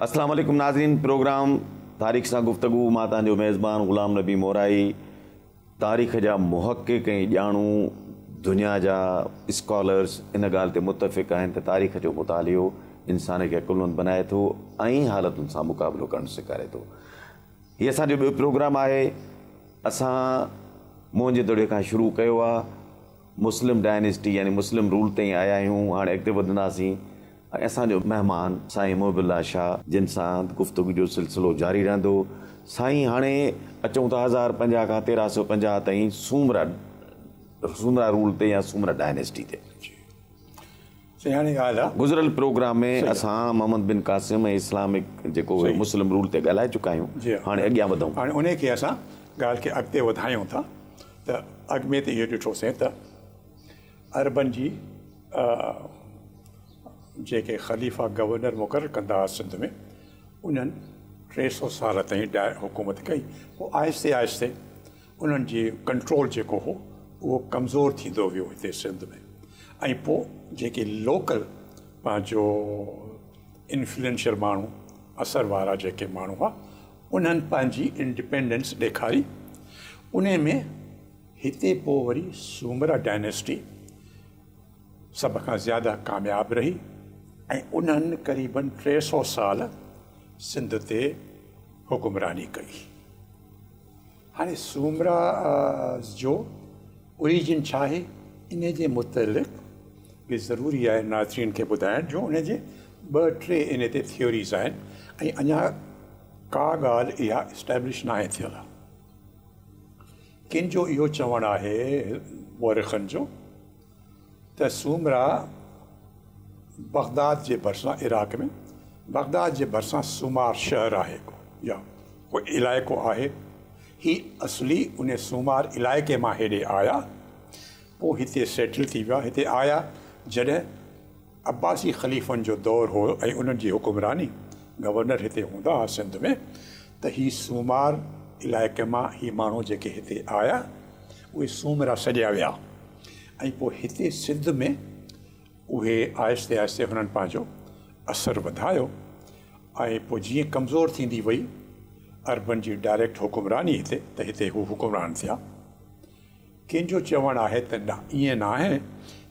السلام عليڪم ناظرين پروگرام تاريخ سان گفتگو مان تان جو ميزبان غلام نبي مورائي تاريخ جا محقق ۽ ڄاڻو دنيا جا اسڪالرز ان ڳالهه تي متفق آهن ته تاريخ جو مطالعو انسان کي عقلمند بنائي ٿو ۽ حالتن سان مقابلو ڪرڻ سيکاري ٿو هي اسان جو ٻيو پروگرام آهي. اسان موهنجو دڙي کان شروع ڪيو آهي. مسلم ڊائنسٽي يعني مسلم رول تائين آيا آهيون. هاڻ اڳتي وڌنداسين ۽ اسان جو مهمان سائين محب الله شاهه جن سان گفتگو جو سلسلو جاري رهندو. سائين هاڻي اچون ٿا هزار پنجاهه کان تيرهن سؤ پنجاهه تائين سومرا سومرا رول تي يا سومرا ڊائنسٽي تي. سياڻي ڳالهه آ. گذريل پروگرام ۾ اسان محمد بن قاسم ۽ اسلامڪ جيڪو هيو مسلم رول تي ڳالهائي چڪا آهيون هاڻي اڳيان وڌون. هاڻي انهي کي اسان ڳالهه کي اڳتي وڌايون ٿا ته اڳ ۾ ته اهو ڏٺوسين ته عربن جي جيڪي خليفا گورنر مقرر ڪندا هئا سنڌ ۾ انهن ٽي سئو سال تائين حڪومت ڪئي پوء آهستي آهستي انهن جي ڪنٽرول جيڪو هو اهو ڪمزور ٿيندو ويو هتي سنڌ ۾ ۽ پوء جيڪي لوڪل پنهنجو انفلوئنشل ماڻهو اثر وارا جيڪي ماڻهو هئا انهن پنهنجي انڊپينڊنس ڏيکاري ان ۾ هتي پوء وري سومرا ڊائنسٽي سڀ کان زياده ڪامياب رهي ۽ انهن قريبن ٽي سو سال سنڌ تي حڪمراني ڪئي هاڻي سومرا جو Origin ڇا آهي ان جي متعلق به ضروري آهي ناظرين کي ٻڌائڻ جو ان جي ٻه ٽي ان تي Theories آهن ۽ اڃا ڪا ڳالهه اها Establish ناهي ٿيل. ڪن جو اهو چوڻ آهي مورخن جو، ته سومرا بغداد جي ڀرسان عراق ۾ بغداد جي ڀرسان سومار شهر آهي ڪو يا ڪو علائقو آهي هي اصلي ان سومار علائقي مان هيڏي آيا پوء هتي سيٽل ٿي ويا هتي آيا جڏهن عباسي خليفن جو دور هو ۽ انهن جي حڪمراني گورنر هتي هوندا ها سنڌ ۾ ته هي سومار علائقي مان هي ماڻهو جيڪي هتي آيا اهي سومرا سڏيا ويا ۽ پوء هتي سنڌ ۾ اهي آهستي آهستي هنن پنهنجو اثر وڌايو ۽ پوء جيئن ڪمزور ٿيندي وئي عربن جي ڊائريڪٽ حڪمراني هتي ته هتي هو حڪمران ٿيا ڪنهن جو چوڻ آهي ته نه ائين نه آهي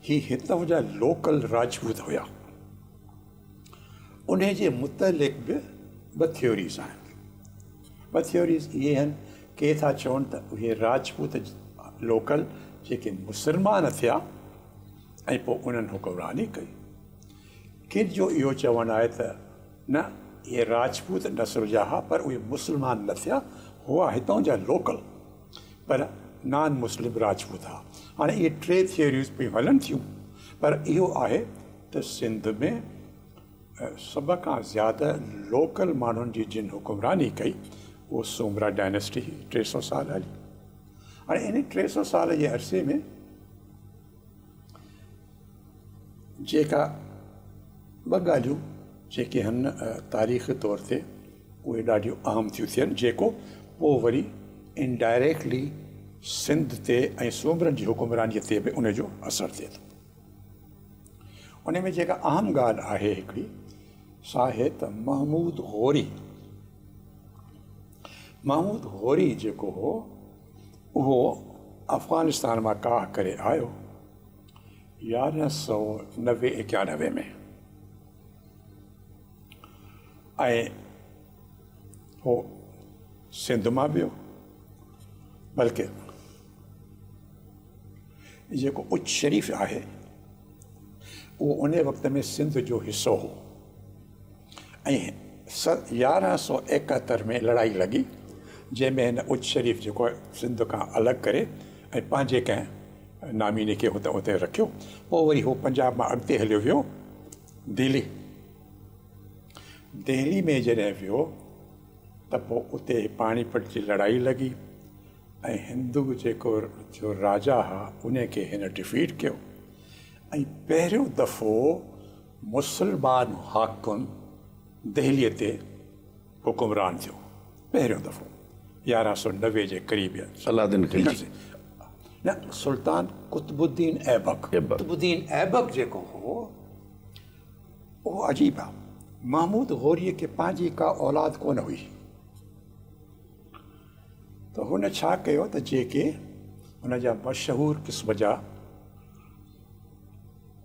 هي هتان جا لوڪل راجپوت هيا. انهي جي متعلق به ٻه ٿيوريز آهن. ٻه ٿيوريز اهي آهن ڪي ٿا چون ته اهي راجپوت لوڪل جيڪي مسلمان ٿيا ۽ پوء انهن حڪمراني ڪئي. ڪن جو اهو چوڻ آهي ته نه اهي راجپوت نسل جا هئا پر اهي مسلمان نه ٿيا هئا هتان جا لوڪل. پر نان مسلم راجپوت ها. هاڻي اهي ٽي ٿيوريون پيون هلن ٿيون پر اهو آهي ته سنڌ ۾ سڀ کان زياده لوڪل ماڻهن جي جن حڪمراني ڪئي اهو سومرا ڊائنسٽي هئي ٽي سئو سال هلي هاڻي ان ٽي سئو سال جي عرصي ۾ جيڪا ٻه ڳالهيون جيڪي هن تاريخي طور تي اهي ڏاڍيون اهم ٿيون ٿين جيڪو پوء وري انڊائريڪٽلي سنڌ تي ۽ سومرن جي حڪمرانيء تي به ان جو اثر ٿئي ٿو ان ۾ جيڪا اهم ڳالهه آهي هڪڙي سا آهي ته محمود غوري محمود غوري جيڪو هو اهو افغانستان مان ڪاهه ڪري آيو يارهن سؤ نوي ايڪانوي ۾ ۽ هو سنڌ مان ويو بلڪه جيڪو اچ شريف آهي اهو ان وقت ۾ سنڌ جو حصو هو ۽ سن يارهن سؤ ايڪهتر ۾ لڙائي لڳي، جنهن ۾ هن اچ شريف جيڪو سنڌ کان الڳ ڪري ۽ پنهنجي ڪنهن ناميني کي هت اتي رکيو. پوء وري هو پنجاب مان اڳتي هليو ويو دهلي. دهلي ۾ جڏهن ويو ته پوء اتي پاڻي پٽ جي لڙائي لڳي ۽ هندو جيڪو جو راجا ها، ان کي هن ڊفيٽ ڪيو ۽ پهريون دفعو مسلمان حاڪم دهليء تي حڪمران ٿيو پهريون دفعو يارهن سؤ نوي جي قريب يا صلح الدين خلجي نه سلطان قطب الدين ايبڪ قطب الدين ايبڪ جيڪو هو اهو عجيب آ محمود غوريء کي پنهنجي ڪا اولاد ڪونه هئي ته هن ڇا ڪيو ته جيڪي هن جا مشهور قسم جا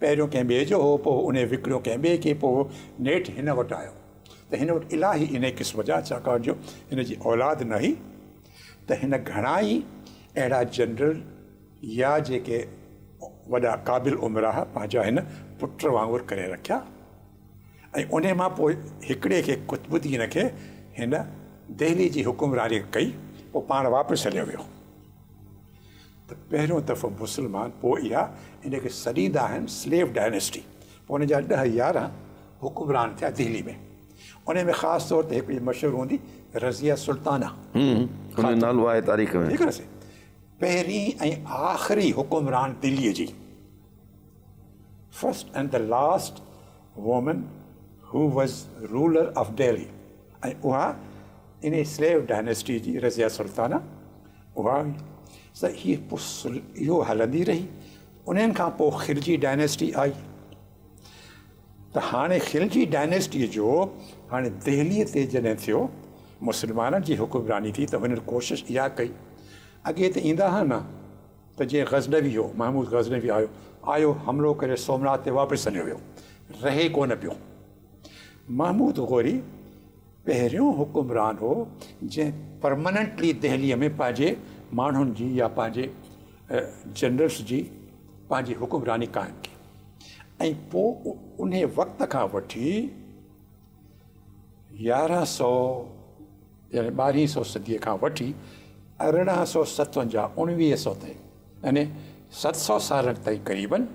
پهريون ڪنهن ٻئي جو هو، پوء انهي وڪڻيو ڪنهن ٻئي کي، پوء نيٺ هن وٽ آيو ته هن وٽ الاهي انهي قسم جا ڇاڪاڻ جو هن جي اولاد نه هئي ته هن گهڻا ئي اهڙا جنرل يا جيڪي وڏا قابل امراء پنهنجا هن پٽ وانگر ڪري رکيا ۽ انهي مان پوء هڪڙي کي قطب الدين کي هن دهلي جي حڪمراني ڪئي پوء پاڻ واپس هليو ويو. ته پهريون دفعو مسلمان پوء اها ان کي سڏيندا آهن سليو ڊائنسٽي پوء ان جا ڏهه يارهن حڪمران ٿيا دهلي ۾ انهي ۾ خاص طور تي هڪڙي مشهور هوندي رضيه سلطانه ان جو نالو آهي تاريخ ۾ پهرين ۽ آخري حڪمران دهلي جي first and last woman who was ruler of Delhi ۽ اها انهي سليو ڊائنسٽي جي رضيه سلطانه اها هئي سو هي اهو هلندي رهي انهن کان پوء خلجي ڊائنسٽي آئي ته هاڻي خلجي ڊائنسٽي جو هاڻي دهلي تي جڏهن ٿيو مسلمانن جي حڪمراني ٿي ته هنن ڪوشش اها ڪئي اڳي ته ايندا ها نه ته جيئن غزنوي هو محمود غزنوي آيو آيو حملو ڪري سومناٿ تي واپس هليو ويو رهي ڪونه پيو محمود غوري پهريون حڪمران هو جنهن پرماننٽلي دهليء ۾ پنهنجي ماڻهن جي يا پنهنجي جنرلس جي پنهنجي حڪمراني قائم ڪئي ۽ پوء انهي وقت کان وٺي يارهن سؤ يعني ٻارهين سؤ صديء کان وٺي ارڙهن سؤ ستونجاهه اوڻويهه سؤ تائين يعني ست سؤ سالن تائين قريبن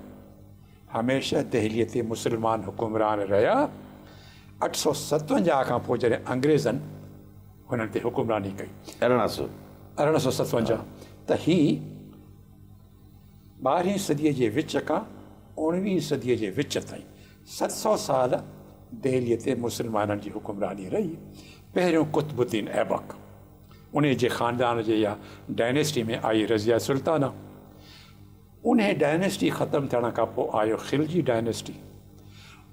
هميشه دهليء تي مسلمان حڪمران رهيا. اٺ سؤ ستونجاهه کان پوء جڏهن انگريزن هنن تي حڪمراني ڪئي. ارڙهن سؤ ارڙهن سؤ ستونجاهه ته هي ٻارهين صديء جي وچ کان اوڻويهين صديء جي وچ تائين ست سؤ سال دهليء تي مسلمانن جي حڪمراني رهي. پهريون قطب الدين ايبڪ انهيء جي خاندان جي يا Dynasty ۾ آئي رضيه سلطانه. انهيء ڊائناسٽي ختم ٿيڻ کان پوء آيو خلجي ڊائناسٽي.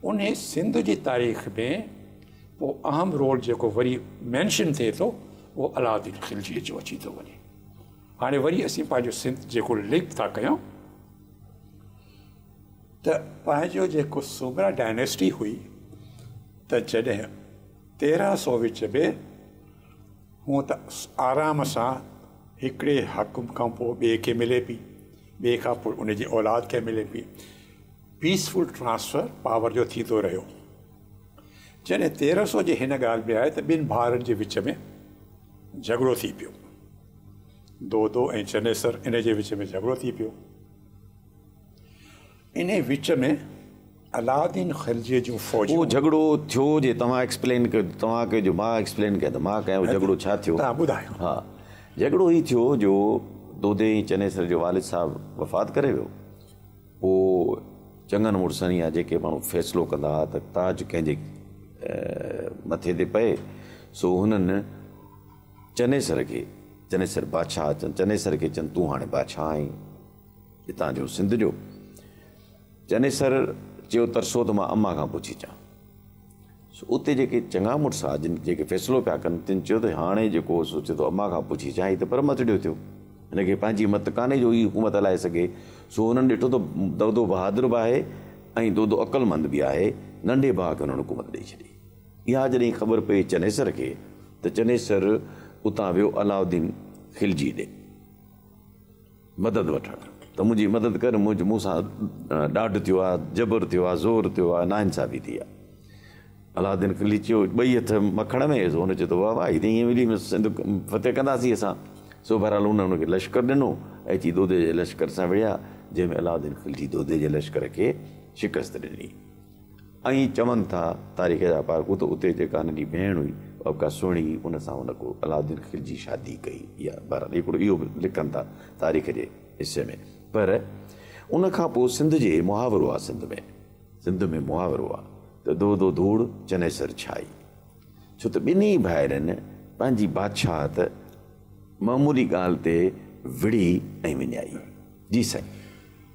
انهيء سنڌ جي تاريخ ۾ ڪو اهم رول جيڪو وري مينشن ٿئي ٿو اهو علاؤالدين خلجيء جو اچي ٿو وڃي. هاڻي وري اسين پنهنجو سنڌ جيڪو لنڪ ٿا ڪيون ته پنهنجو جيڪو سومرا ڊائناسٽي هئي ته جڏهن تيرهن سو وچ ۾ هونء ته آرام سان هڪڙي حاڪم کان پوء ٻئي کي ملي پئي، ٻئي کان پوء ان جي اولاد کي ملي پئي. پيس فل ٽرانسفر پاور جو ٿيندو رهيو. جڏهن تيرهن سؤ جي هن ڳالهه ۾ آئي ته ٻن ڀائرن جي وچ ۾ جهڳڙو ٿي پيو. دودو ۽ چنيسر ان جي وچ ۾ جهڳڙو ٿي پيو. انهي وچ ۾ علاؤالدين خلجيء جون فوجون. اهو جهڳڙو ٿيو جي توهان ايڪسپلين ڪيو توهان ڪيو جو مان ايڪسپلين ڪيان ته مان ڪيان اهو جهڳڙو ڇا ٿيو. توهان ٻڌايو. ها جهڳڙو هي ٿيو جو دودي ۽ چنيسر جو والد صاحب وفات ڪري ويو پوء چڱن مڙسن يا جيڪي ماڻهو فيصلو ڪندا ها ته تاج ڪنهن جي مٿي تي پئي سو هنن چنيسر کي چنيسر بادشاهه چنيسر کي چن تون هاڻي بادشاهه آهين. اتان جو سنڌ جو چنيسر چيو ترسو ته مان اما کان پڇي چان. سو اتي جيڪي چڱا مڙس ها جن جيڪي فيصلو پيا ڪن تن چيو ته هاڻي جيڪو سو چي ٿو اما کان پڇي چان هي ته پر متڙيو ٿيو هن کي پنهنجي مت ڪانهي جو هي حڪومت هلائي سگهي سو هنن ڏٺو ته دودو بهادر به آهي ۽ دودو عقل مند به آهي ننڍي ڀاء کي هنن حڪومت ڏئي ڇڏي اها جڏهن خبر پئي چنيسر کي ته چنيسر اتان ويو علاؤالدين خلجي ڏي. مدد وٺڻ ته منهنجي مدد ڪر، منهنجي مون سان ڏاڍ ٿيو آهي، جبر ٿيو آهي، زور ٿيو آهي، ناانصافي ٿي آهي. علاؤالدين کلي چيو، ٻئي هٿ مکڻ ۾ ويس، هن چيو ته واهه واهه هي ته ائين ويلي ۾ سنڌ فتح ڪنداسين اسان، سو بهرحال هن ان کي لشڪر ڏنو ۽ اچي دودي جي لشڪر سان وڙهيا، جنهن ۾ علاؤالدين خلجي دودي جي لشڪر کي شڪست ڏني. ائين چون ٿا تاريخ جا پارکو ته اتي جيڪا هن جي ڀيڻ هئي اها به ڪا سهڻي هئي ان سان هن ڪو علاؤالدين خلجي شادي ڪئي يا بهرحال هڪڙو اهو به لکن ٿا تاريخ جي حصي ۾ پر ان کان پوء سنڌ جي محاورو آهي سنڌ ۾ سنڌ ۾ محاورو آهي ته دو دو ڌوڙ چنيسر ڇائي ڇو ته ٻنهي ڀائرن پنهنجي بادشاهت معمولي ڳالهه تي وڙهي ۽ وڃائي جي سائين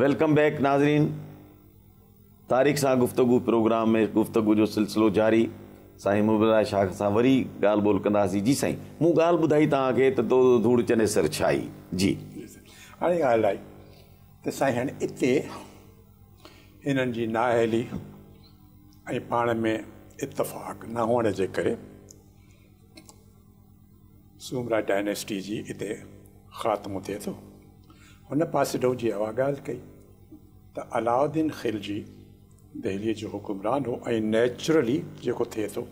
ويلڪم بيڪ ناظرين تاريخ سان گفتگو پروگرام ۾ گفتگو جو سلسلو جاري سائين مبلرا شاخ سان وري ڳالهه ٻولهه ڪنداسين جي سائين مون ڳالهه ٻڌائي توهان کي ته دو دو ڌوڙ چني سر ڇائي جي هاڻي ڳالهه آئي ته سائين هن اتي هنن جي نااهلي ۽ پاڻ ۾ اتفاق نه هئڻ جي ڪري سومرا ڊائناسٽي جي اتي خاتمو ٿئي ٿو. هن پاسيڊو جي اها ڳالهه ڪئي ته علاؤالدين خلجي دهليء جو حڪمران هو ۽ نيچرلي جيڪو ٿئي ٿو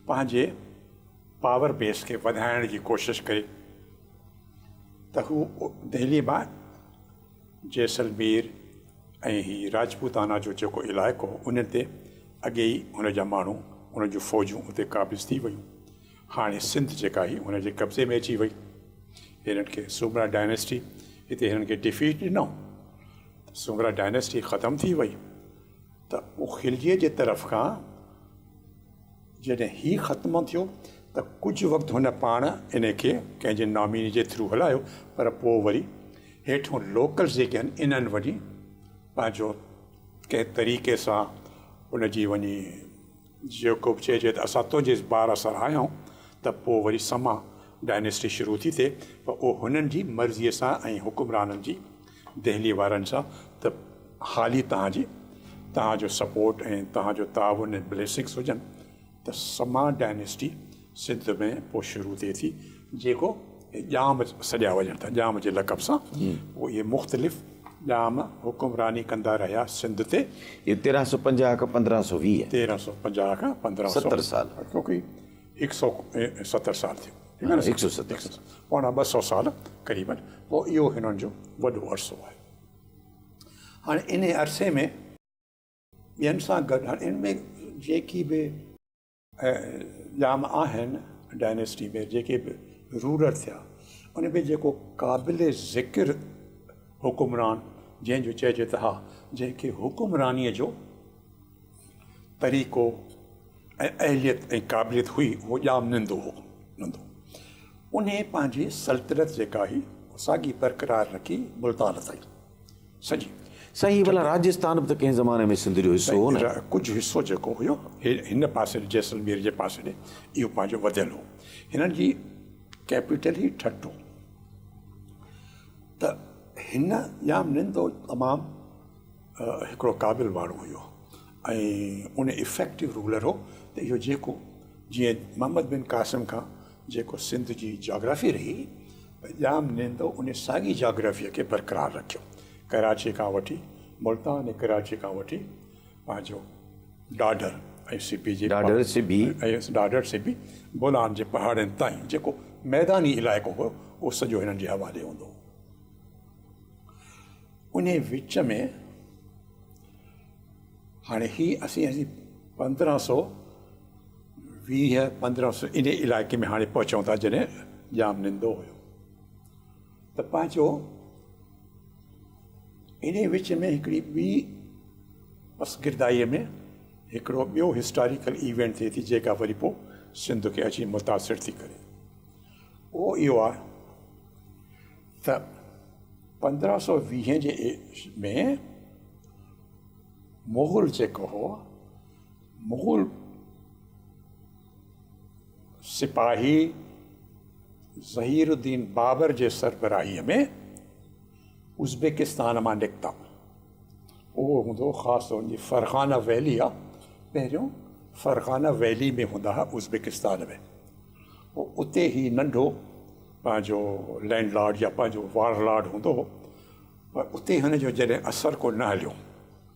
پنهنجي پاور بيس کي وڌائڻ جي ڪوشش ڪئي ته هو دهليء مان جيسلمير ۽ هي راجپوتانا جو جيڪو علائقو هو ان تي اڳي ئي هن جا ماڻهو هن جون فوجون اتي قابض ٿي ويون هاڻي سنڌ جيڪا هئي هن جي قبضي ۾ اچي وئي. هنن کي سومرا ڊائناسٽي هتي هنن کي ڊفيٽ ڏنو ته سومرا ڊائناسٽي ختم ٿي وئي ته اوکلجي جي طرف کان جڏهن هي ختم ٿيو ته ڪجهه وقت هن پاڻ ان کي ڪنهن جي ناميني جي ٿرو هلايو پر پوء وري هيٺون لوڪلز جيڪي آهن انهن وڃي پنهنجو ڪنهن طريقي سان ان جي وڃي جيڪوب چئجي ته اسان تنهنجي اس بار اثر آهيون ته پوء وري سما ڊائنيسٽي شروع ٿي ٿئي پر اهو هنن جي مرضي سان ۽ حڪمرانن جي دهلي وارن سان ته حالي توهان جي توهان جو سپورٽ ۽ توهان جو تعاون ۽ بليسنگس هجن ته سما ڊائنيسٽي سنڌ ۾ پوء شروع ٿئي ٿي جيڪو ڄام سڏيا وڃن ٿا ڄام جي لقب سان پوء اهي مختلف ڄام حڪمراني ڪندا رهيا سنڌ تي اهي تيرهن سؤ پنجاهه کان پندرهن سؤ ويهه تيرهن سؤ پنجاهه کان پندرهن سؤ ستر سال ڪيونڪي هڪ سؤ ستر سال ٿيو هڪ سؤ ستر سال پوڻا ٻه سؤ سال قريبن پوء اهو هنن جو وڏو عرصو آهي هاڻي انهي عرصي ۾ ٻين سان گڏ هاڻي ان ۾ جيڪي به ڄام آهن ڊائنيسٽي ۾ جيڪي به رولر ٿيا ان ۾ جيڪو قابل ذڪر حڪمران جنهنجو چئجي ته ها جنهنکي حڪمرانيء جو طريقو ۽ اهليت ۽ قابليت هئي اهو ڄام نندو هو نندو انهي پنهنجي سلطنت جيڪا هئي ساڳي برقرار رکي ملتان تائين سڄي. سائين هي ڀلا راجستان به ته ڪنهن زماني ۾ سنڌ جو حصو هو نه؟ ڪجهه حصو جيڪو هيو هن پاسي جيسلمير جي پاسي ڏي اهو پنهنجو وڌيل هو هنن جي ڪيپيٽل هي ٺٽ هو ته هن ڄام نندو تمام هڪڙو قابل ماڻهو هيو ۽ ان افيڪٽو رولر هو ته اهو جيڪو جيئن محمد بن قاسم کان جيڪو سنڌ جي جاگرافي رهي ته ڄام نيندو ان ساڳي جاگرافيء کي برقرار رکيو. ڪراچيء کان وٺي ملتان ۽ ڪراچيء کان وٺي پنهنجو ڏاڍر ۽ سبي جي ڏاڍر سبي ۽ ڏاڍر سبي بولان جي پهاڙين تائين جيڪو ميداني علائقو هو اهو سڄو هنن جي حوالي هوندو هو. انهيء وچ ۾ هاڻي هي اسين پندرهن سو ويهه پندرهن سو ان علائقي ۾ هاڻي پهچون ٿا جڏهن ڄام نندو هيو ته پنهنجو ان وچ ۾ هڪڙي ٻي بس گردائيء ۾ هڪڙو ٻيو هسٽاريڪل ايونٽ ٿئي ٿي جيڪا وري پوء سنڌ کي اچي متاثر ٿي ڪري اهو اهو آهي ته پندرهن سو ويهه جي ۾ مغل جيڪو هو مغل سپاهي ظهير الدين بابر جي سربراهيء ۾ ازبيڪستان مان نڪتا. اهو هوندو خاص طور جي فرغانه ويلي آ پهريون فرغانه ويلي ۾ هوندا ها ازبيڪستان ۾ پوء اتي هي ننڍو پنهنجو لينڊ لارڊ يا پنهنجو وارلارڊ هوندو هو پر اتي هن جو جڏهن اثر ڪو نه هليو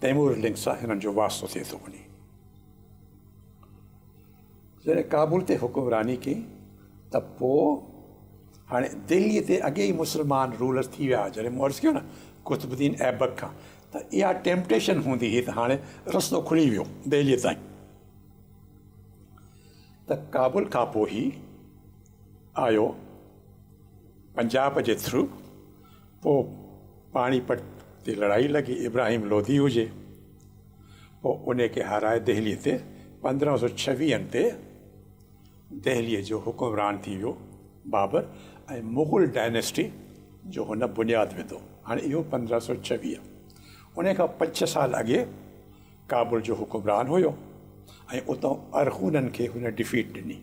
تيمور لينڪ سان هنن جو واسطو ٿئي ٿو وڃي. جڏهن ڪابل تي حڪمراني ڪئي ته پوء هاڻي دهلي تي اڳي ئي مسلمان رولر ٿي ويا جڏهن مون عرض ڪيو نه قطب الدين ايبڪ کان ته اها ٽيمپٽيشن هوندي هئي ته هاڻي رستو کلي ويو دهلي تائين ته ڪابل کان پوء هي آيو پنجاب جي ٿرو پوء پاڻي پٽ تي لڙائي لڳي ابراهيم لوڌي هجي پوء انهي کي هارائي دهلي تي پندرهن سو ڇويهن تي دهلي جو حڪمران ٿي ويو بابر ۽ مغل ڊائنسٽي جو هن بنياد وڌو هاڻي اهو پندرهن سو ڇويهه انهي کان پنج ڇهه سال اڳي ڪابل جو حڪمران هيو ۽ اتان ارغونن کي هن ڊفيٽ ڏني.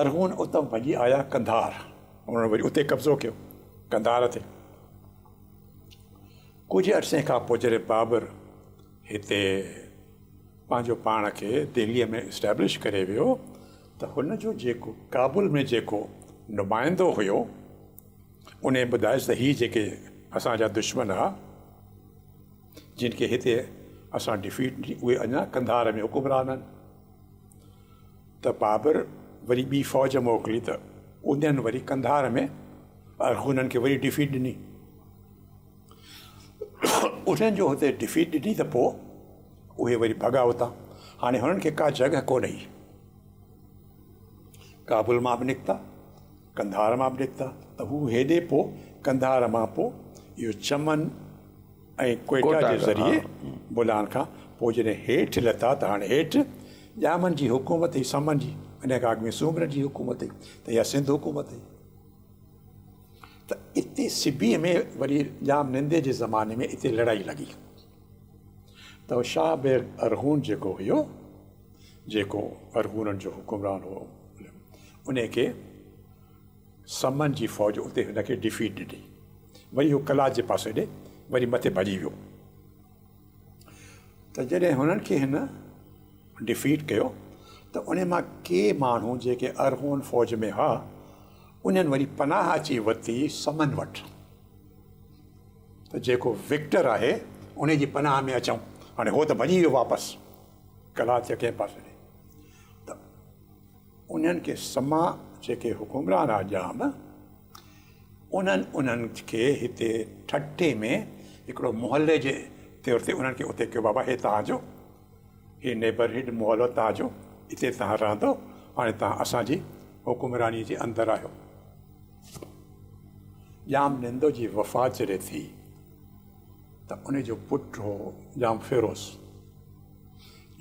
ارغون اتان ڀڄي آيا قنڌار. انهن وري اتي قبضو ڪيو قنڌار تي. ڪجهه عرصي کان پوء جڏهن بابر هتي پنهنجو پاڻ کي دهليء ۾ اسٽيبلش ڪري ويو ته هن جو جيڪو ڪابل ۾ جيڪو نمائندو هيو ان ٻڌايس ته هي جيڪي اسان جا دشمن هئا جن کي هتي اسان ڊفيٽ ڏني اهي اڃا قنڌار ۾ حڪمران آهن. ته بابر وري ٻي فوج موڪلي ته انهن وري قنڌار ۾ ارغونن کي وري ڊفيٽ ڏني انهن جو هتي ڊفيٽ ڏني ته پوء اهي وري ڀڳا اتان هاڻي هنن کي ڪا جڳهه ڪونه هئي ڪابل مان به نڪتا قنڌار مان به نڪتا ته هو هيڏي پوء قنڌار مان پوء اهو چمن ۽ ڪوئٽا جي ذريعي بولان کان پوء جڏهن هيٺ لٿا ته هاڻي هيٺ ڄامن جي حڪومت هئي سمن جي انهيء کان اڳ ۾ سومرن جي حڪومت هئي ته اها سنڌ حڪومت هئي ته اتي سبيء ۾ وري ڄام نندي جي زماني ۾ اتي لڙائي لڳي ته شاهه بيگ ارغون جيڪو هيو جيڪو ارغونن جو حڪمران هو انهيء کي سمن جي فوج اتي هن کي ڊفيٽ ڏني. وري هو قلات جي پاسي ڏي وري مٿي ڀڄي ويو. ته جڏهن هنن کي هن ڊفيٽ ڪيو ته انهن مان ڪي ماڻهو جيڪي ارغون فوج ۾ هئا انهن وري پناهه اچي ورتي سمن وٽ ته جيڪو وڪٽر آهي انهي جي پناهه ۾ اچون. هاڻي هو ته ڀڄي ويو واپس قلات جي ڪنهن پاسي ڏي ته انهن کي سما جيڪي حڪمران آ ڄام انهن انهن کي هتي ٺٽي ۾ هڪڙو محلي جي طور تي انهن کي اتي ڪيو بابا هي توهان جو هي نيبرهڊ محلو توهان جو هتي توهان رهندو هاڻي توهان اسان جي حڪمراني جي اندر آهيو ڄام نندو جي وفات جڏهن ٿي ته ان جو پٽ هو ڄام فيروز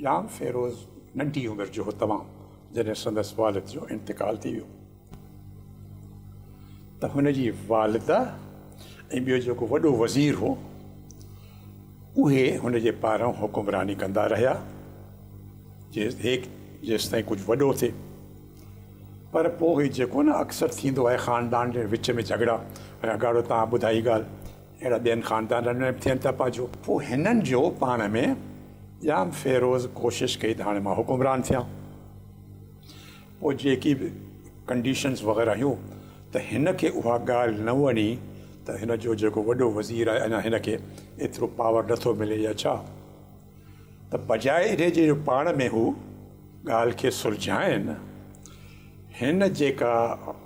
ڄام فيروز ننڍي عمر جو هو تمام جڏهن سندس والد جو انتقال ٿي ويو ته هن جي والده ۽ ٻيو جيڪو وڏو وزير هو اهي هن جي پاران حڪمراني ڪندا رهيا جيستائين ڪجهه وڏو ٿئي پر پوء جيڪو نه اڪثر ٿيندو آهي خاندان جي وچ ۾ جهڳڙا هاڻي اگهاڙو تان ٻڌائي ڳالهه اهڙا ٻين خاندانن ۾ به ٿين ٿا پاجو. پوء هنن جو پاڻ ۾ ڄام فيروز ڪوشش ڪئي ته هاڻي مان حڪمران ٿيان. پوء جيڪي به ڪنڊيشنز وغيره هيون ته هن کي اها ڳالهه نه وڻي ته هن جو جيڪو وڏو وزير آهي اڃا هن کي ايترو پاور نه ٿو ملي يا ڇا ته بجاء انهي جي جو پاڻ ۾ هو ڳالهه کي سلجهائين هن جيڪا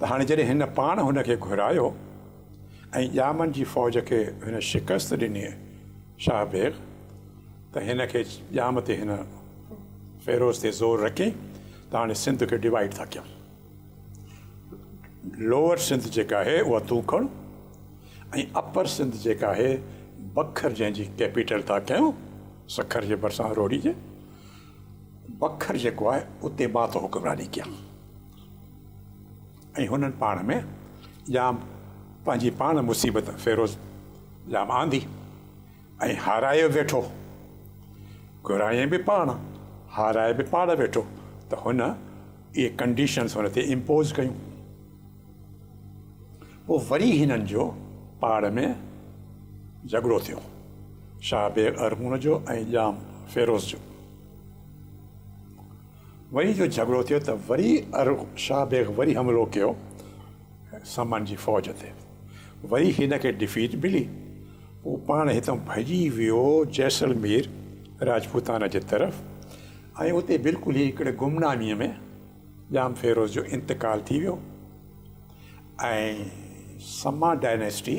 ته هاڻي جڏهن هن پاڻ هن کي گهرايو ۽ ڄامن جي فوج کي هن شڪست ڏني شاهه بيگ ته هن کي ڄام تي هن فيروز تي زور رکي ته هاڻي سنڌ کي ڊوائيڊ ٿا ڪيون لوور سنڌ جيڪا آهي اها تون کڻ ۽ اپر سنڌ جيڪا آهي بکر جنهن جي ڪيپيٽل ٿا ڪيون سکر جي ڀرسان روهڙي جي بکر جيڪو آهي اتي مان ٿو حڪمراني ڪيان ۽ هنن پاڻ ۾ ڄام پنهنجي پاڻ مصيبت فيروز ڄام آندي ۽ هارايو ويٺو، گهرايائين به پاڻ، هارايو به پاڻ ويٺو ته هن اهي ڪنڊيشنز هن تي امپوز ڪيون. پوء وري هنن جو پاڻ ۾ جهڳڙو ٿيو، شاهه بيگ ارغون جو ۽ ڄام فيروز جو. وري جو جهڳڙو ٿيو ته وري ارغ شاهه بيگ وري حملو ڪيو سمن جي فوج تي وري هن کي ڊفيٽ ملي هو پاڻ هتان ڀڄي ويو جيسلمير راجپوتانا جي طرف ۽ اتي بلڪل ئي هڪڙي گمنامي ۾ ڄام فيروز جو انتقال ٿي ويو ۽ سما ڊائنيسٽي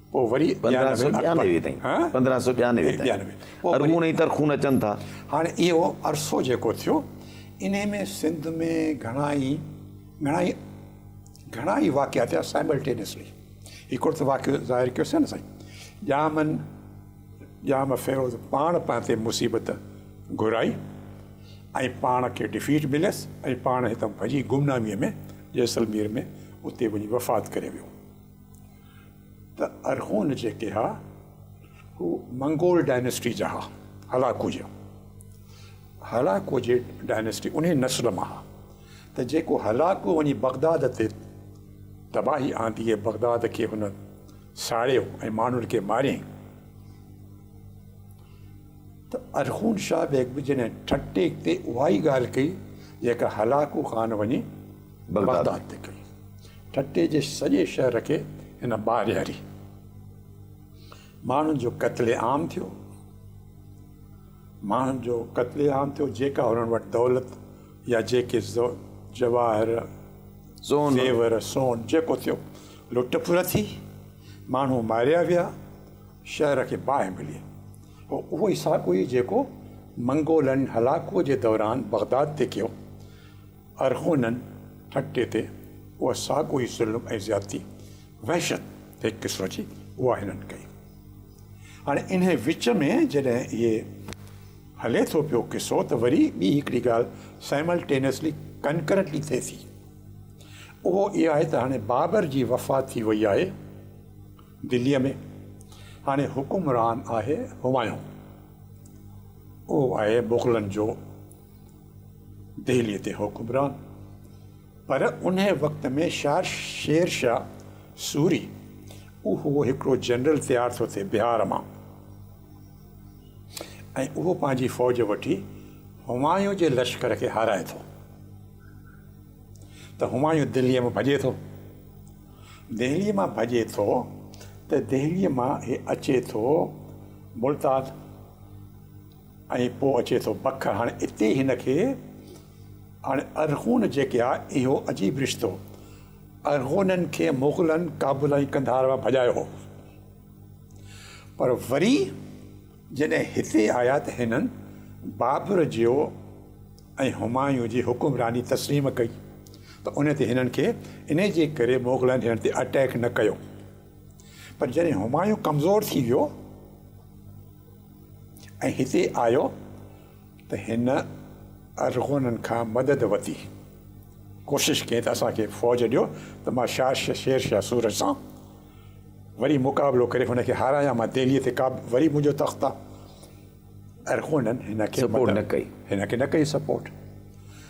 پوء وري پندرهن سؤ ٻيانوي تائين پندرهن سؤ ٻيانوي تائين ارغون ۽ ترخون اچن ٿا. هاڻي اهو عرصو جيڪو ٿيو انهي ۾ سنڌ ۾ گهڻا ئي گهڻا ئي گهڻا ئي واقعا ٿيا سائملٽينيسلي هڪڙو ته واقعو ظاهر ڪيو سين سائين ڄامن ڄام فيروز پاڻ پنهن تي مصيبت گهرائي ۽ پاڻ کي ڊفيٽ مليس ۽ پاڻ هتان ڀڄي گمنامي ۾ جيسلمير ۾ اتي وڃي وفات ڪري ويو. ته ارغون جيڪي ها هو منگول ڊائنسٽي جا ها هلاڪو جي هلاڪو جي ڊائنسٽي انهي نسل مان ها ته جيڪو هلاڪو وڃي بغداد تي تباهي آندي ۽ بغداد کي هن ساڙيو ۽ ماڻهن کي ماريائين ته ارغون شاهه بيگ به جڏهن ٺٽي تي اها ئي ڳالهه ڪئي جيڪا هلاڪو خان وڃي بغداد تي ڪئي. ٺٽي جي سڄي شهر کي هن ٻارياري. ماڻهن جو قتل عام ٿيو. ماڻهن جو قتل عام ٿيو جيڪا هنن وٽ دولت يا جيڪي جواهر سون زيور سون جيڪو ٿيو لٽ ڦر ٿي ماڻهو ماريا ويا شهر کي باهه ملي هو اهو ئي ساڳو ئي جيڪو منگولن هلاڪوء جي دوران بغداد تي ڪيو ارغونن ٺٽي تي اها ساڳو ئي ظلم ۽ زيادتي، وحشت هڪ قسم جي، اها هنن ڪئي. هاڻي انهيء وچ ۾ جڏهن اهي هلي ٿو پيو قصو ته وري ٻي هڪڙي ڳالهه Simultaneously، Concurrently، ٿئي ٿي. اهو اها آهي ته هاڻي بابر جي وفات ٿي وئي آهي دليء ۾، هاڻي حڪمران آهي همايون. اهو آهي مغلن جو. دهليء تي حڪمران، پر انهيء وقت ۾ شاهه شير شاهه سوري اهو هڪڙو جنرل تيار ٿو ٿئي بهار مان ۽ اهو پنهنجي فوج وٺي همايون جي لشڪر کي هارائي ٿو ته همايون دهليء مان ڀڄي ٿو دهليء مان ڀڄي ٿو ته دهليء مان هي اچي ٿو ملتان ۽ پوء اچي ٿو بک. هاڻي اتي هن کي هاڻي ارغون جيڪي آ اهو عجيب رشتو. ارغونن کي مغلن ڪابل ۽ قنڌار مان ڀڄايو هو پر وري جڏهن هتي آيا ته هنن بابر جيو ۽ همايون جي حڪمراني تسليم ڪئي ته انهي تي هنن کي انهي جي ڪري مغلن هنن تي اٽيڪ نه ڪيو پر جڏهن همايون ڪمزور ٿي ويو ۽ هتي آيو ته هن ارغونن کان مدد وتي ڪوشش ڪئي ته اسان کي فوج ڏيو ته مان شاهه شير شاهه سورج سان وري مقابلو ڪري هن کي هارايان مان دهليء تي قابو وري منهنجو تخت آ ارغونن هن کي سپورٽ نه ڪئي هن کي نه ڪئي سپورٽ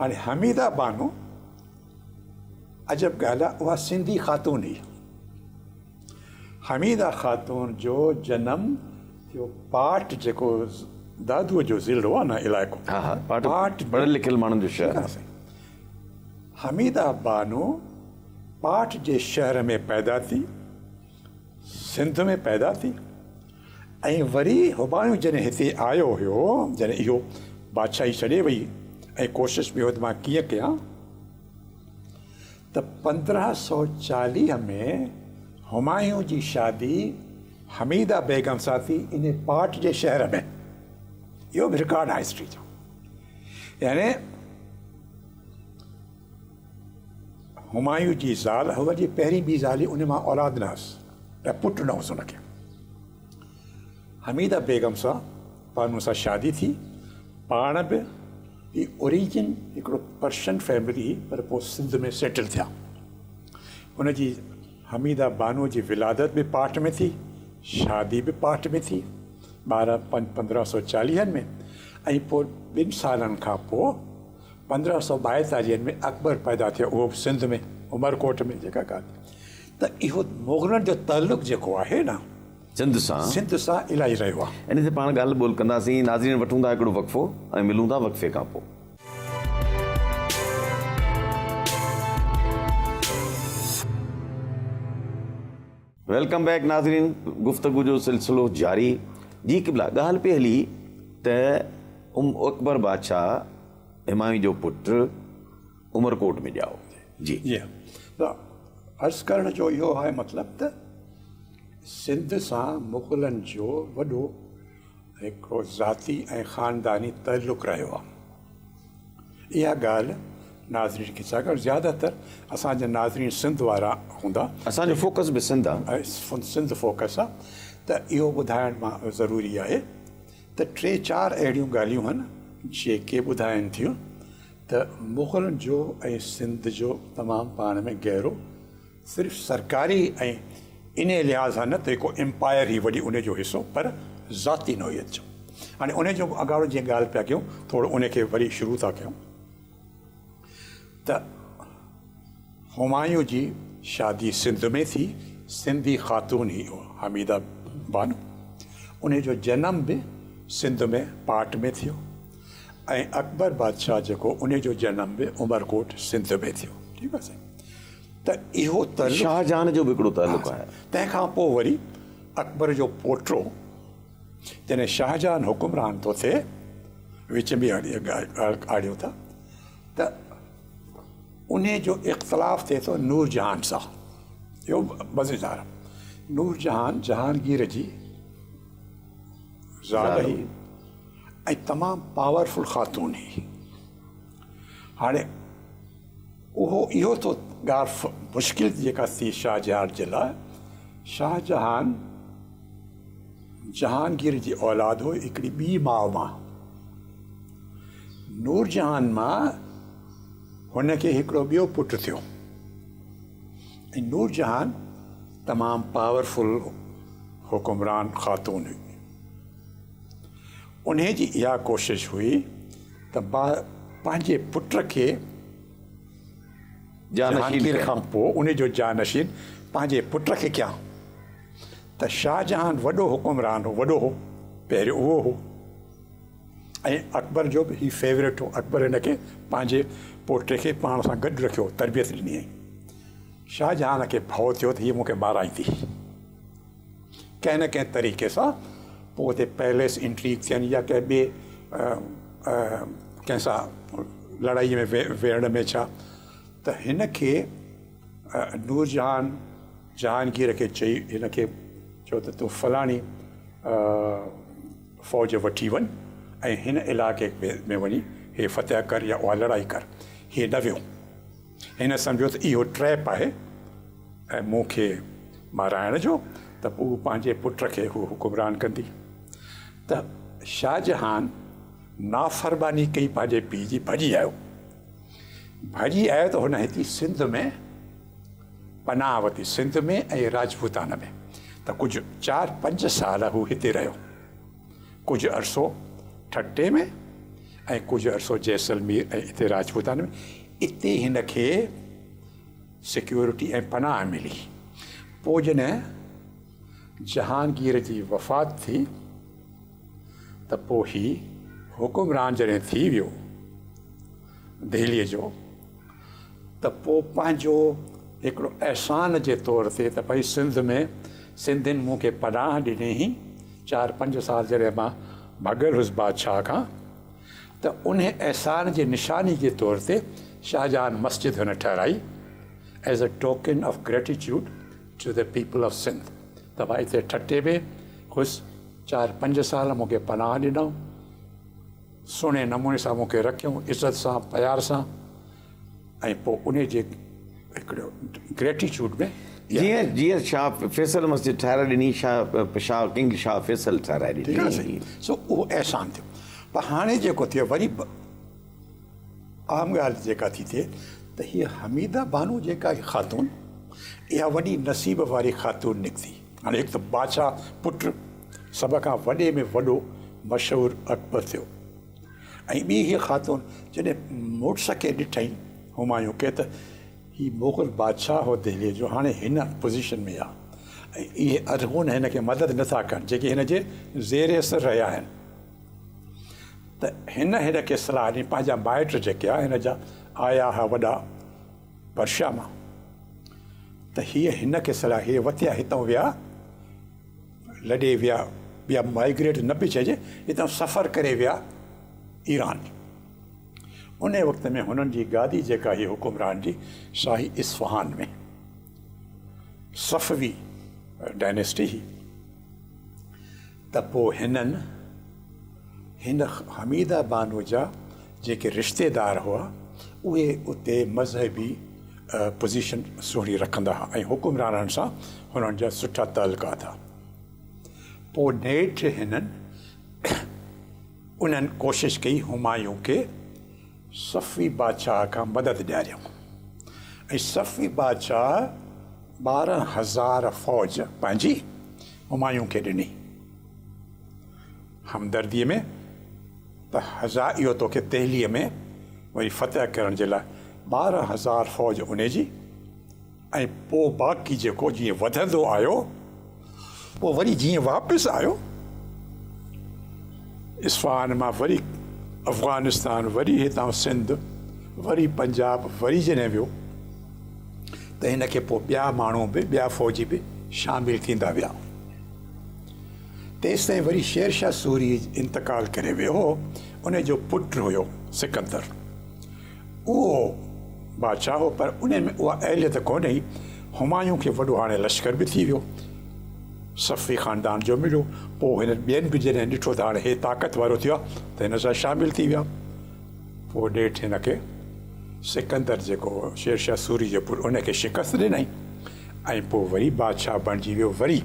هاڻي حميده بانو عجب ڳالهه آهي اها سنڌي خاتون هئي. حميده خاتون جو جنم جو پاٽ جيڪو دادو جو ضلعو آهي نه علائقو ها ها پاٽ پاٽ پڙهيل لکيل ماڻهن جو شهر آهي حميده بانو پاٽ جي شهر ۾ پيدا ٿي سنڌ ۾ پيدا ٿي ۽ وري هٻاڻيون جڏهن هتي آيو هيو جڏهن اهو بادشاهي ڇڏي وئي ۽ ڪوشش به وڌ مان ڪيئن ڪيان ته پندرهن سؤ چاليهه ۾ همايون جي شادي حميده بيگم سان ٿي ان پاٽ جي شهر ۾ اهو به رڪارڊ آهي هسٽري جو يعني همايون جي زال هئس جي پهرين ٻي زالي ان مان اولاد نه هئس ۽ پٽ نه هئس ان کي حميده بيگم سان پنهون سان شادي ٿي پاڻ به هي اوريجن هڪڙو پرشن فيملي هئي پر پوء سنڌ ۾ سيٽل ٿيا ان جي حميده بانو جي ولادت به پاٺ ۾ ٿي شادي به پاٺ ۾ ٿي ٻارهن پنج پندرهن سو چاليهن ۾ ۽ پوء ٻن سالن کان پوء پندرهن سؤ ٻائيتاليهن ۾ اڪبر پيدا ٿيو اهو به سنڌ ۾ عمرڪوٽ ۾ جيڪا ڳالهه ته اهو مغلن جو تعلق جيڪو آهي نه سنڌ سان سنڌ سان الاهي رهيو آهي. انهي تي پاڻ ڳالهه ٻولهه ڪنداسين ناظرين وٺون ٿا هڪڙو وقفو ۽ ملون ٿا وقفي کان پوء. ويلڪم بيڪ ناظرين گفتگو جو سلسلو جاري جي قبلا ڳالهه پئي هلي ته ام اڪبر بادشاهه همايون جو پٽ عمرڪوٽ ۾ ڄائو جي جي عرض ڪرڻ جو اهو آهي مطلب ته سنڌ سان مغلن جو وڏو هڪڙو ذاتي ۽ خانداني تعلق رهيو آهي اها ڳالهه ناظرين کي ڇا ڪرڻ زياده تر اسان جا ناظرين سنڌ وارا هوندا. اسان جو فوڪس به سنڌ آ. سنڌ فوڪس آ ته اهو ٻڌائڻ مان ضروري آهي ته ٽي چار اهڙيون ڳالهيون هن جيڪي ٻڌائن ٿيون ته مغلن جو ۽ سنڌ جو تمام پاڻ ۾ گهرو صرف سرڪاري ۽ انهيء لحاظ سان نه ته ڪو امپائر ئي وڍي انهيء جو حصو پر ذاتي نوعيت جو. هاڻي انهيء جو اڳاڙو جيئن ڳالهه پيا ڪيون ٿورو انهيء کي وري شروع ٿا ڪيون ته همايون جي شادي سنڌ ۾ ٿي سنڌي خاتون هئي حميده بانو انهيء جو جنم به سنڌ ۾ پاٽ ۾ ٿيو ۽ اڪبر بادشاهه جيڪو انهيء جو جنم به عمرڪوٽ سنڌ ۾ ٿيو ٺيڪ آهي سائين. ته اهو تعلق شاهه جهان جو به هڪڙو تعلق آهي. تنهن کان پوء وري اڪبر جو پوٽو جڏهن شاهه جهان حڪمران ٿو ٿئي، وچ ۾ اهڙي ڳالهه آڙيو ٿا ته انهي جو اختلاف ٿئي ٿو نور جهان سان. اهو مزيدار نور جهان جهانگير جي زال هئي ۽ تمام پاورفل خاتون هئي. هاڻي. اهو اهو ٿو ڳالهه مشڪل جيڪا ٿي شاهه جهان جي لاء شاهه جهان جهانگير جي اولاد هو هڪڙي ٻي ماء مان نور جهان مان هن کي هڪڙو ٻيو پٽ ٿيو ۽ نور جهان تمام پاورفل حڪمران خاتون هئي انهيء جي اها ڪوشش هئي ته با پنهنجي پٽ کي جهانگير کان پوء انهيء جو جانشين پنهنجي پٽ کي ڪيان ته شاهجهان وڏو حڪمران هو وڏو هو پهريون اهو هو ۽ اڪبر جو به هي فيوريٽ هو اڪبر هن کي پنهنجي پوٽي کي پاڻ سان گڏ رکيو تربيت ڏني شاهجهان کي ڀؤ ٿيو ته هيء مون کي مارائيندي ڪنهن نه ڪنهن طريقي سان پوء اتي پيليس انٽريڪ ٿين يا ڪنهن ٻي ڪنهن سان لڙائي ۾ ويڙهڻ ۾ ڇا ته هن کي نورجهان جهانگير کي چئي هن کي چيو ته تون فلاڻي فوج وٺي وڃ ۽ هن علائقي ۾ وڃي هي فتح ڪر يا اها لڙائي ڪر هي نه ويو هن سمجهيو ته اهو ٽريپ آهي ۽ مون کي مارائڻ جو ته پوء پنهنجي پٽ کي هوء حڪمران ڪندي ته شاهجهان نافرماني ڪئي پنهنجي پيء جي ڀڄي آيو ڀڄي آيو ته هن هتي سنڌ ۾ پناهه وتي سنڌ ۾ ۽ راجپوتان ۾ ته ڪجهه چار پنج سال هو هتي رهيو ڪجهه عرصو ٺٽي ۾ ۽ ڪجهه عرصو جيسلمير ۽ اتي راجپوتاني ۾ اتي هن کي سيڪيورٽي ۽ پناهه ملي پوء جڏهن جهانگير جي وفات ٿي ته پوء هي حڪمران جڏهن ٿي ويو دهليء جو ته پوء پنهنجو هڪڙو احسان جي طور تي ته ڀئي سنڌ ۾ سنڌين مون کي پناهه ڏني هي چار پنج سال جڏهن مان ڀڳل هوس بادشاهه کان ته انهي احسان جي نشاني جي طور تي شاهجهان مسجد هن ٺهرائي As a token of gratitude to the people of Sindh ته مان اتي ٺٽي ۾ هوس چار پنج سال مون کي پناهه ڏنائون. سهڻي نموني سان مون کي رکيائون عزت سان پيار سان ۽ پوء انهي جي هڪڙي گريٽيچوڊ ۾ جيئن جيئن شاهه فيصل مسجد ٺهرائي ڏني شاهه شاهه ڪنگ شاهه فيصل ٺهرائي ڏني ٺيڪ آهي سائين سو اهو احسان ٿيو پر هاڻي جيڪو ٿيو وري به اهم ڳالهه جيڪا ٿي ٿئي ته هي حميده بانو جيڪا هي خاتون اها وڏي نصيب واري خاتون نڪتي هاڻي هڪ ته بادشاهه پٽ سڀ کان وڏي ۾ وڏو مشهور اڪبر ٿيو ۽ ٻي هيء خاتون جڏهن مڙس کي ڏٺائين همايون کي ته هي مغل بادشاهه هو دهليء جو هاڻي هن پوزيشن ۾ آ ۽ اهي ارغون هن کي مدد نه ٿا ڪن جيڪي هن جي زير اثر رهيا آهن ته هن هن کي صلاح ڏني پنهنجا مائٽ جيڪي آ هن جا آيا ها وڏا پرشا مان ته هيء هن کي صلاح هيء وتيا هتئون ويا لڏي ويا ٻيا مائگريٽ نه پئي چئجي هتئون سفر ڪري ويا ايران انهي وقت ۾ هنن جي گادي جيڪا هي حڪمران جي سا هي اصفهان ۾ صفوي ڊائنيسٽي هي ته پوء هنن، هن حميده بانو جا جيڪي رشتيدار هئا، اهي اتي مذهبي پوزيشن سهڻي رکندا ها ۽ حڪمرانن سان هنن جا سٺا تعلقات ها. پوء نيٺ هنن انهن ڪوشش ڪئي همايون کي صفوي بادشاهه کان مدد ڏياريائون ۽ صفوي بادشاهه ٻارهن هزار فوج پنهنجي همايون کي ڏني همدرديء ۾ ته هزا اهو توکي دهليء ۾ وري فتح ڪرڻ جي لاء ٻارهن هزار فوج انهي جي ۽ پوء باقي جيڪو جيئن وڌندو آيو پوء وري جيئن واپس آيو اصفهان مان وري افغانستان وري هتان سنڌ وري پنجاب وري جڏهن ويو ته هن کي پوء ٻيا ماڻهو به ٻيا فوجي به شامل ٿيندا ويا. تيستائين وري شير شاهه سوري انتقال ڪري ويو هو، ان جو پٽ هيو سڪندر. اهو بادشاهه هو پر ان ۾ اها اهليت ڪونه هئي. همايون کي وڏو هاڻي لشڪر به ٿي ويو، صفوي خاندان جو مليو، پوء هنن ٻين به جڏهن ڏٺو ته هاڻي هي طاقت وارو ٿيو آهي ته هن سان شامل ٿي ويا. پوء ڏيٺ هن کي سڪندر جيڪو هو شيرشاهه سوري جو پٽ ان کي شڪست ڏنائين ۽ پوء وري بادشاهه بڻجي ويو وري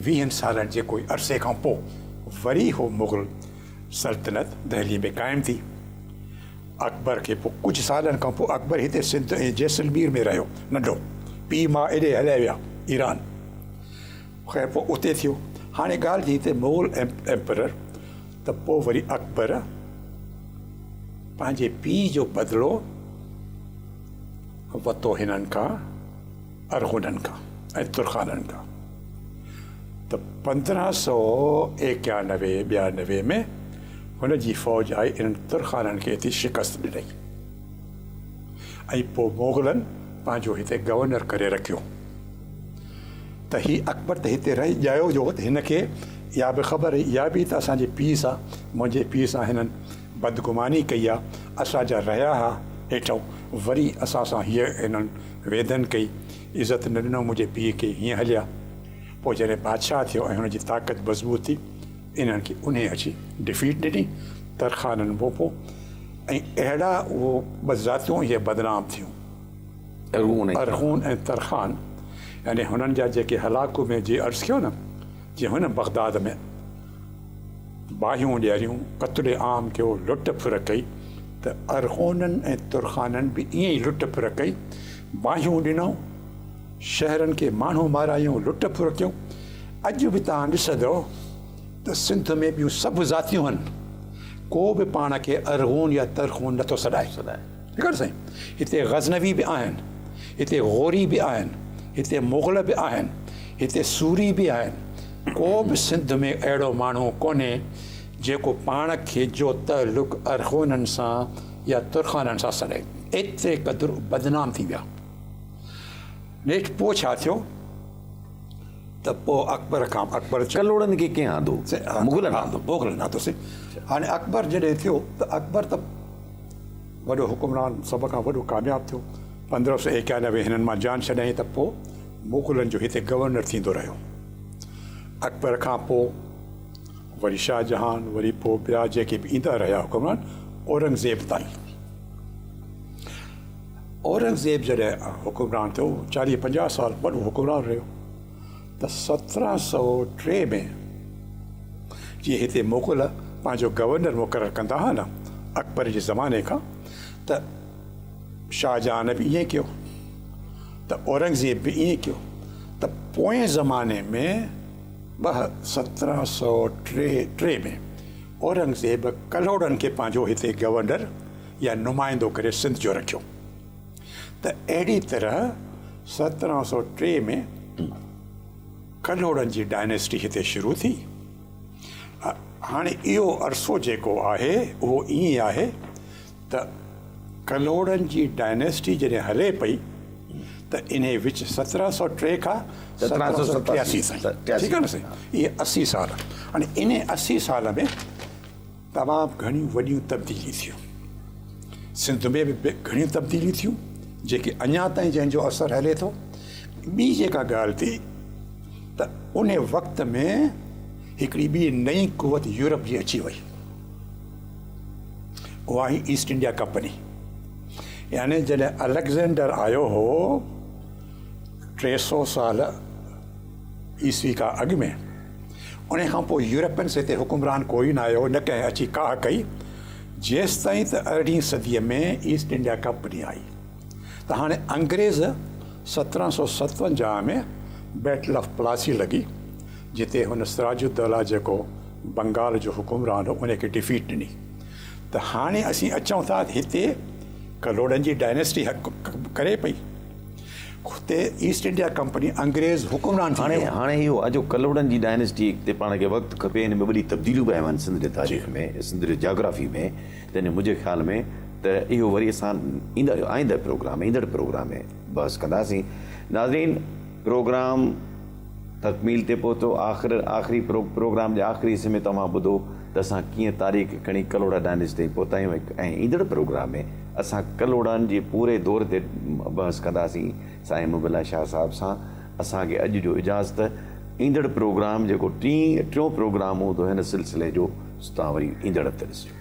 ويهن سالن جي ڪوئي عرصي کان پوء وري هو مغل سلطنت دهلي ۾ قائم ٿي اڪبر کي پوء ڪجهه سالن کان پوء اڪبر هتي سنڌ ۽ جيسلمير ۾ رهيو ننڍو پيء ماء ايڏي هليا ويا ايران خير پوء اتي ٿيو هاڻي ڳالهه جي هتي مغل ايمپرر ته پوء وري اڪبر پنهنجي پيء جو بدلو وتو هنن کان ارغونن کان ۽ ترخانن کان ته پندرهن سؤ ايڪيانوي ٻيانوي ۾ هن جي فوج آئي انهن ترخانن کي هتي شڪست ڏني ۽ پوء مغلن پنهنجو هتي گورنر ڪري رکيو ته هي اڪبر ته هتي رهي ڄائو جو ته هن کي اها به خبر هئي اها به ته اسان جي پيء سان منهنجي پيء سان هنن بدگماني ڪئي آ اسان جا رهيا ها هيٺئون وري اسان سان هيء هنن ويڌن ڪئي عزت نه ڏنو منهنجي پيء کي هيئن هليا پوء جڏهن بادشاهه ٿيو ۽ هن جي طاقت مضبوط ٿي انهن کي انهي اچي ڊفيٽ ڏني ترخانن ڀوپو ۽ اهڙا اهو ٻه ذاتيون هيء بدنام ٿيون. ارغون ۽ ترخان يعني هنن جا جيڪي هلاڪو ۾ جي عرض ڪيو نه جي هن بغداد ۾ باهيون ڏياريون قتل عام ڪيو لٽ ڦر ڪئي ته ارغونن ۽ ترخانن به ائين ئي لٽ ڦر ڪئي باهيون ڏنائون شهرن کي ماڻهو مارايون لٽ ڦر ڪيو اڄ به توهان ڏسندو ته سنڌ ۾ ٻيون سڀ ذاتيون هن ڪو به پاڻ کي ارغون يا ترخون نٿو سڏائي ڏيکاريو سائين هتي غزنوي به آهن هتي غوري به آهن هتي مغل به آهن هتي سوري به آهن ڪو به سنڌ ۾ اهڙو ماڻهو ڪونهي جيڪو پاڻ کي جو تعلق ارغونن سان يا ترخانن سان سڏي ايتري قدر بدنام ٿي ويا نيٺ پوء ڇا ٿيو ته پوء اڪبر کان اڪبر ڪلوڙن کي ڪنهن آندو مغلن آندو مغلن آندو سي هاڻي اڪبر جڏهن ٿيو ته اڪبر ته وڏو حڪمران سڀ کان وڏو ڪامياب ٿيو. پندرهن سؤ ايڪانوي هنن مان جان ڇڏائين ته پوء مغلن جو هتي گورنر ٿيندو رهيو. اڪبر کان پوء وري شاهه جهان وري پوء ٻيا جيڪي به ايندا رهيا حڪمران اورنگزيب تائين. اورنگزيب جڏهن حڪمران ٿيو چاليهه پنجاهه سال وڏو حڪمران رهيو. ته سترهن سؤ ٽي ۾ جيئن هتي مغل پنهنجو گورنر مقرر ڪندا ها نه اڪبر جي زماني کان ته شاهه جهان به ائين ڪيو ته اورنگزيب به ائين ڪيو ته پوئين زماني ۾ ٻه سترهن سؤ ٽي ٽي ۾ اورنگزيب ڪلهوڙن کي پنهنجو هتي گورنر يا نمائندو ڪري سنڌ جو رکيو ته اهڙي طرح سترهن سؤ ٽي ۾ ڪلهوڙن جي ڊائنيسٽي هتي شروع ٿي. هاڻي اهو عرصو جيڪو آهي اهو ائين آهي ته ڪلهوڙن جي ڊائنيسٽي جڏهن هلي پئي ته انهي وچ سترهن سؤ ٽي کان سترهن سؤ ستاسي تائين ٺيڪ آهي نه سائين اهي اسي سال هاڻي انهي اسي سال ۾ تمام گهڻيون وڏيون تبديليون ٿيون. سنڌ ۾ به گهڻيون تبديليون ٿيون جيڪي اڃا تائين جنهن جو اثر هلي ٿو. ٻي جيڪا ڳالهه ٿي ته ان وقت ۾ هڪڙي ٻي نئين قوت يورپ جي اچي وئي. اها هئي ايسٽ انڊيا ڪمپني. يعني جڏهن اليگزينڊر آيو هو ٽي سؤ سال عيسوي کان اڳ ۾ انهيء کان پوء يورپينس هتي حڪمران ڪوئي نه آيو نه ڪنهن اچي ڪاهه ڪئي، جيستائين ته ارڙهين صديء ۾ ايسٽ انڊيا ڪمپني آئي ته هاڻي انگريز سترهن سؤ ستونجاهه ۾ بيٽل آف پلاسي لڳي، جتي هن سراج الدوله جيڪو بنگال جو حڪمران هو انهيء کي ڊفيٽ ڏني ته هاڻي اسين اچون ٿا هتي ڪلهوڙن جي ڊائناسٽي حڪم ڪري پئي. اتي ايسٽ انڊيا ڪمپني انگريز حڪمران ٿي ويو. هاڻي اهو آ جو ڪلهوڙن جي ڊائنسٽي تي پاڻ کي وقت کپي هن ۾ وڏي تبديليون به آيون آهن سنڌ جي تاريخ ۾ سنڌ جي جاگرافي ۾ تنهن جو منهنجي خيال ۾ ته اهو وري اسان ايندڙ آئنده پروگرام ايندڙ پروگرام ۾ بحث ڪنداسين ناظرين پروگرام تڪميل تي پهتو. آخر آخري پروگرام جي آخري حصي ۾ توهان ٻڌو ته اسان ڪيئن تاريخ کڻي ڪلهوڙا ڊائنسٽي تائين پهتا آهيون ۽ ايندڙ پروگرام ۾ اسان ڪلهوڙن جي پوري دور تي بحث ڪنداسين سائين محب الله شاهه صاحب سان. اسان کي اڄ جو اجازت. ايندڙ پروگرام جيڪو ٽين ٽيون پروگرام هوندو هن سلسلي جو سو توهان وري ايندڙ هفتي ڏسجو.